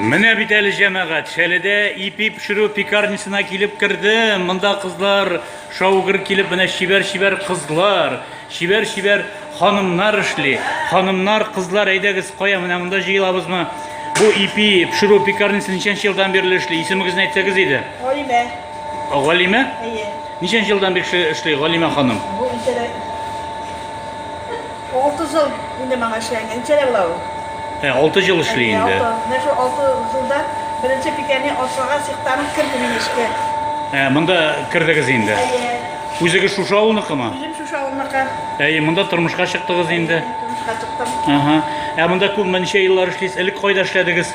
Менә бит әле җәмәгать, Шәледә ипи пешерү пекарнисына килеп керде. Монда кызлар шаугыр килеп, менә чибәр-чибәр кызлар, чибәр-чибәр ханымнар эшли. Ханымнар, кызлар, әйдәгез, кая менә монда җыелабызмы? Бу ипи пешерү пекарнисына ничәнче елдан бирле эшли? Исемегезне әйтсәгез иде. Алимә. Галимә? Әйе. Ничәнче елдан бик эшли Галимә ханым? Бу ничәдә? 30 ел инде маңа эшләнгән. Ничәдә була ул? Ә, 6 ел эшли инде. Менә шул 6 елда беренче пикәне ашага сихтаны керде мин эшкә. Ә, монда кердегез инде. Әйе. Үзегез шушы авылныкымы? Үзем шушы авылныкы. Әйе, монда тормышка чыктыгыз инде. Тормышка чыктым. Ага. Ә монда күпме ничә еллар эшлисез? Элек кайда эшләдегез?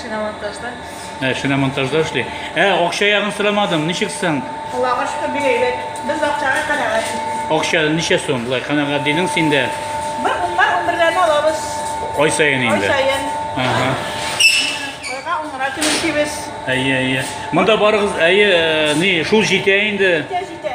Шиномонтажда. Ә, шиномонтажда эшли. Ә, акча ягын сорамадым, ничек соң? Аллага шөкер бик әйбәт. Без акчага канәгать. Акча ничә сум? Болай канәгать дидең син дә. Бер уннар унберләрне алабыз. Ай саен Ай инде. саен. Ага. Айга уннар көн эшлибез. Әйе, әйе. Монда барыгыз, әйе, э, ни, шул җитә инде. Җитә, җитә.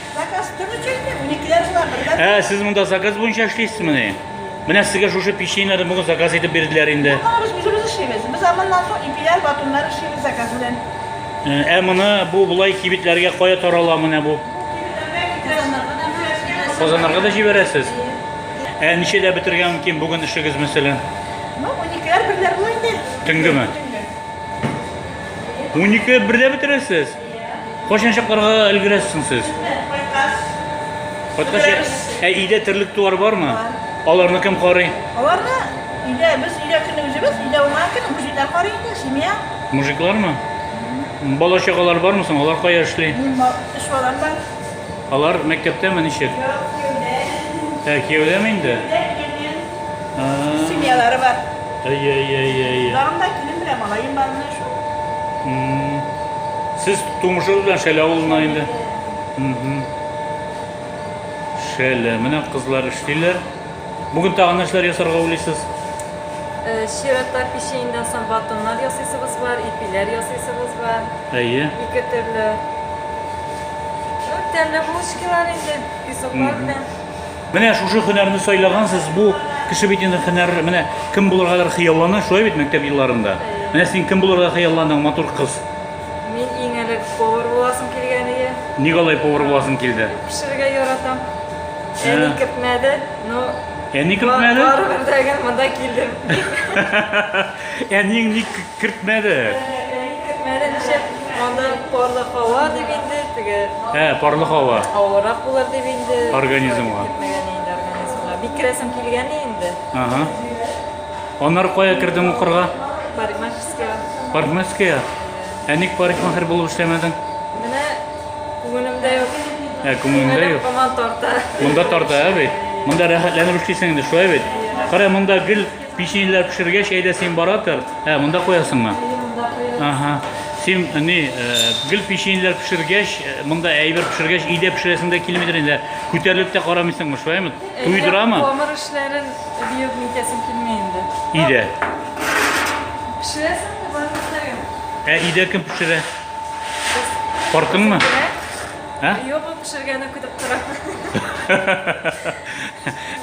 Заказ кем өчен инде? Уникеләр була, бердән. Ә, сез монда заказ буенча эшлисезмени? Менә сезгә шушы печеньены бүген заказ итеп бирделәр инде. Аны без үзебез эшлибез. Без аннан соң ипиләр, батоннар эшлибез заказ белән. Ә моны бу болай кибетләргә кая тарала менә бу? Казаннарга да җибәрәсез? Ә ничәдә бетергән мөмкин бүген эшегез мәсәлән? Ну, уникеләр берләр була инде. Төнгеме? Төнге. 12 берлә бетерәсез? Кайчан чакларга өлгерәсез соң сез? Кайткач. Кайткач, ә өйдә терлек туар бармы? Аларны кем карый? Аларны өйдә без өйдә көне үзебез, өйдә уңа көн мужиклар карый инде, семья. Мужиклармы? Бала чагалар бармы соң? Алар кая эшли? Мин эш балам бар. Алар мәктәптәме ничек? Ә, кияүдәме инде? А, Семьялары бар. Әйе, әйе, әйе, әйе. Дагында килен белән малаем бар менә шул. М, Сез тумышыгыз белән Шәле авылына инде. Мгм. Шәле, менә кызлар эшлиләр. Бүген тагын нәрсәләр ясарга уйлыйсыз? Э, Чирата печеньдән соң батоннар ясыйсыбыз бар, ипиләр ясыйсыбыз бар. Әйе. Ике төрле. Тәмле булочкалар инде, песоклар белән. Менә шушы һөнәрне сайлагансыз, бу кеше бит инде һөнәр, менә кем булыргадыр хыяллана, шулай бит мәктәп елларында. Менә син кем булырга хыялланың, матур кыз? Мин иң элек повар буласым килгән иде. Ник алай повар буласың килде? Пешерергә яратам. Әни кертмәде, но Әни кертмәде? Барыбер дә монда килдем. Әниең ник кертмәде? Әниең кертмәде, ничек? Анда парлы һава дип инде, теге... Ә, парлы һава. Авырак булыр дип инде. Организмга. Кертмәгән инде организмга. Бик керәсем килгән инде. Ага. Аннары кая кердең укырга? Парикмахерская. Парикмахерская? Ә ник парикмахер булып эшләмәдең? Менә күңелемдә юк. Ә, күңелемдә юк. Коман тарта. Монда тарта, ә бит? Монда рәхәтләнеп эшлисең инде, шулай бит? Кара, монда гел Печеньләр пешергәч, әйдә син бара тор. Ә, монда куясыңмы? Монда куясың. Ага. Син э, ни, э, гел печеньләр пешергәч, э, монда әйбер пешергәч, өйдә пешерәсең дә килмидер инде. Күтәрелеп тә карамыйсыңмы, шулаймы? Туйдырамы? Камыр эшләрен биеп нитәсем килми инде. Өйдә. Пешерәсең дә бар нәрсәгә. Ә өйдә кем пешерә? Картыңмы? Бирә. Ә? Юк, ул пешергәне көтеп тора.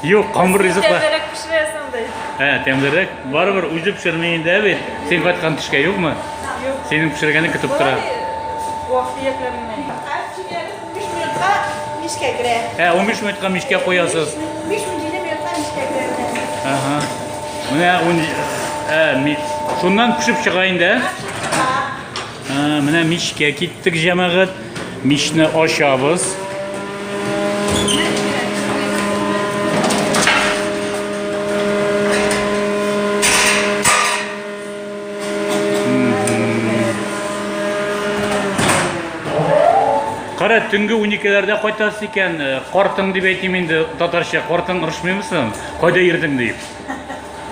Юк, камыр ризык бар. Тәмлерәк пешерәсең андай. Ә, тәмлерәк. Барыбер үзе пешерми инде ә бит. Син кайткан төшкә юкмы? Юк. Синең пешергәне көтеп тора. Вафиятләр генә. Мишкә керә. Ә, 15 минутка мишкә куясыз. 15 минутка мишкә керә. Ага. Менә 10 Ә, шуннан пешеп чыга инде, ә? Менә мичкә киттек, җәмәгать. Мичне ачабыз. Кара, төнге 12-ләрдә кайтасы икән, картың дип әйтим инде татарча, картың ырышмыймы соң? Кайда йөрдең дип.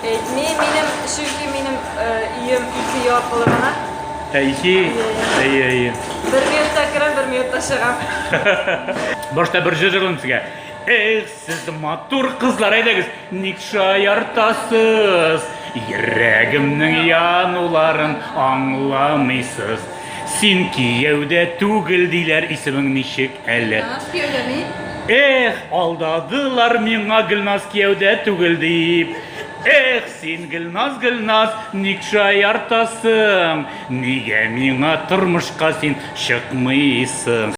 Әйтми минем, чөнки минем өем ике ел аркылы гына. Ә ике? Әйе, әйе. Бер минутта керәм, бер минутта чыгам. Башта бер җырлыйм сезгә. Эх, сез матур кызлар, әйдәгез, ник шаяртасыз? Йөрәгемнең януларын аңламыйсыз. Син кияүдә түгел диләр исемең ничек әле? Гөлназ кияүдә мин. Эх, алдадылар миңа Гөлназ кияүдә түгел дип. Эх, син Гөлназ, Гөлназ, ник шаяртасың? Нигә миңа тормышка син чыкмыйсың?